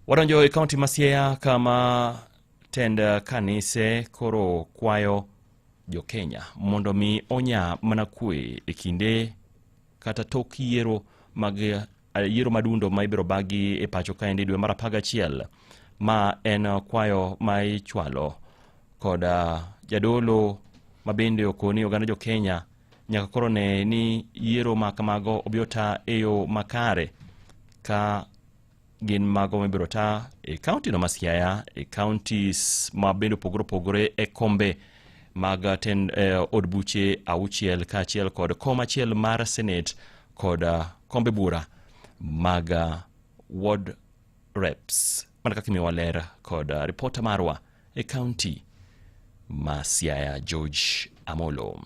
Wadonjo e kaunti ma Siaya kama tend kanise koro kwayo jokenya mondo mi onya mana kwe e kinde kata tok yiero mag yiero madundo ma ibiro bagi e pacho kaendi dwe mar apar gachiel ma en kwayo ma ichwalo kod jadolo mabende okoni oganda jokenya nyaka koro ne ni yiero ma kamago obiro ta e yo makare ka gin mago mibiro ta e kaunti no ma Siaya e counties ma bende opogore opogore e kombe mag ten, eh, od buche auchiel kaachiel kod kom achiel mar senate kod ah, kombe bura mag ah, ward reps mana kaka imiyo waler kod uh, ripota marwa e kaunti ma Siaya George Amolo.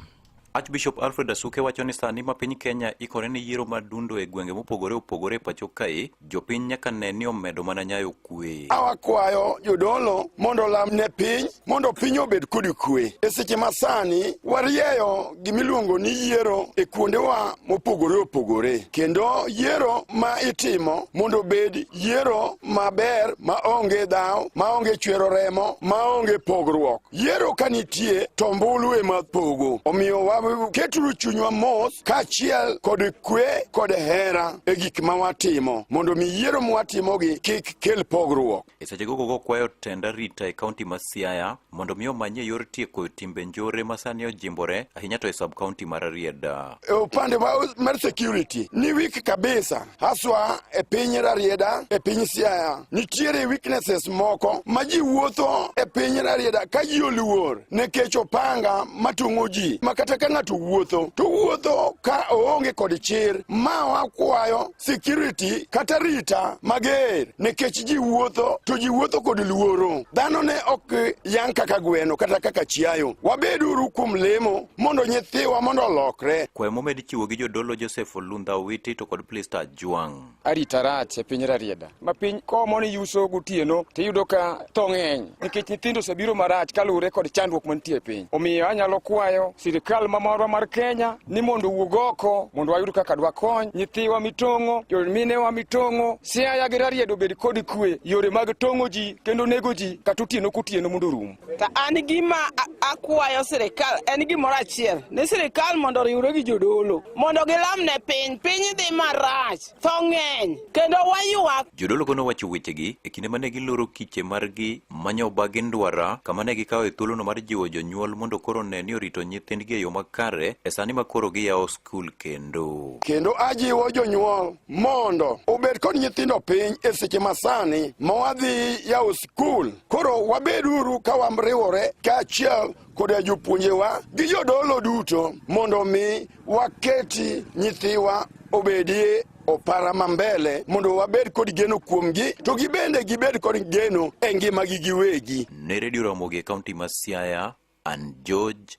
Archbishop Alfred Asuke wacho ni sani ma piny Kenya ikore ne yiero ma dundo e gwenge mopogore opogore e pacho kae, jopiny nyaka ne ni omedo mana nyayo kwe. Awakwayo jodolo mondo olam ne piny mondo piny obed kod kwe. E seche ma sani warieyo gimiluongo ni yiero e kuondewa mopogore opogore, kendo yiero ma itimo mondo obed yiero maber maonge dhawo, maonge chwero remo, maonge pogruok. Yiero ka nitie to mbulu ema pogo. Omiyo waketuru chunywa mos kaachiel kod kwe kod hera e gik ma watimo mondo mi yiero mwatimogi kik kel pogruok. E seche gogo gokwayo tend arita e kaunti ma Siaya mondo mi omanye yor tieko timbe njore ma sani ojimbore ahinya to e sub kaunti mar Rarieda. E upande mar security ni weak kabisa, haswa e piny Rarieda, e piny Siaya nitiere weaknesses moko ma ji wuotho e piny Rarieda ka ji oluor nekech opanga matung'o ji ma kata ka ng'ato wuotho to wuotho ka oonge kod chir, ma wakwayo security kata rita mager nikech ji wuotho to ji wuotho kod luoro dhano ne ok yang kaka gweno kata kaka chiayo wabeduru kuom lemo mondo nyithiwa mondo olokre kwayo momed chiwo gi jodolo joseph olundha owiti to kod plista juang' arita rach e piny rarieda ma piny komo ni yuso gotieno to iyudo ka tho ng'eny nikech nyithindo osebiro marach kaluwore kod chandruok mantie e piny. Omiyo anyalo kwayo sirikal mamorwa mar Kenya ni mondo owuog oko mondo wayud kaka dwakony nyithiwa mitong'o, jominewa mitong'o, Siaya gi Rarieda obed kod kwe, yore mag tong'o ji kendo nego ji kata otieno kotieno mondo orum. Ta an gima akwayo sirikal en gimoro achiel ni sirikal mondo oriwre gi jodolo mondo gilam ne piny, piny dhi marach. tho ng'eny kendo waywak. Jodologo nowacho wechegi e kinde ma ne giloro kiche margi manyo oba gi ndwara kama ne gikawo e thuolono mar jiwo jonyuol mondo koro ne ni orito nyithindgi e yo makare e sani ma koro giyawo skul kendo. Kendo ajiwo jonyuol mondo obed kod nyithindo piny e seche masani ma wadhi yawo skul. Koro wabeduru ka wariwore kaachiel koda jopuonjewa gi jodolo duto mondo mi waketi nyithiwa obedie opara ma mbele mondo wabed kod geno kuomgi to gibende gibed kod geno e ngimagi giwegi. Ne Redio Ramogi e kaunti ma Siaya, an George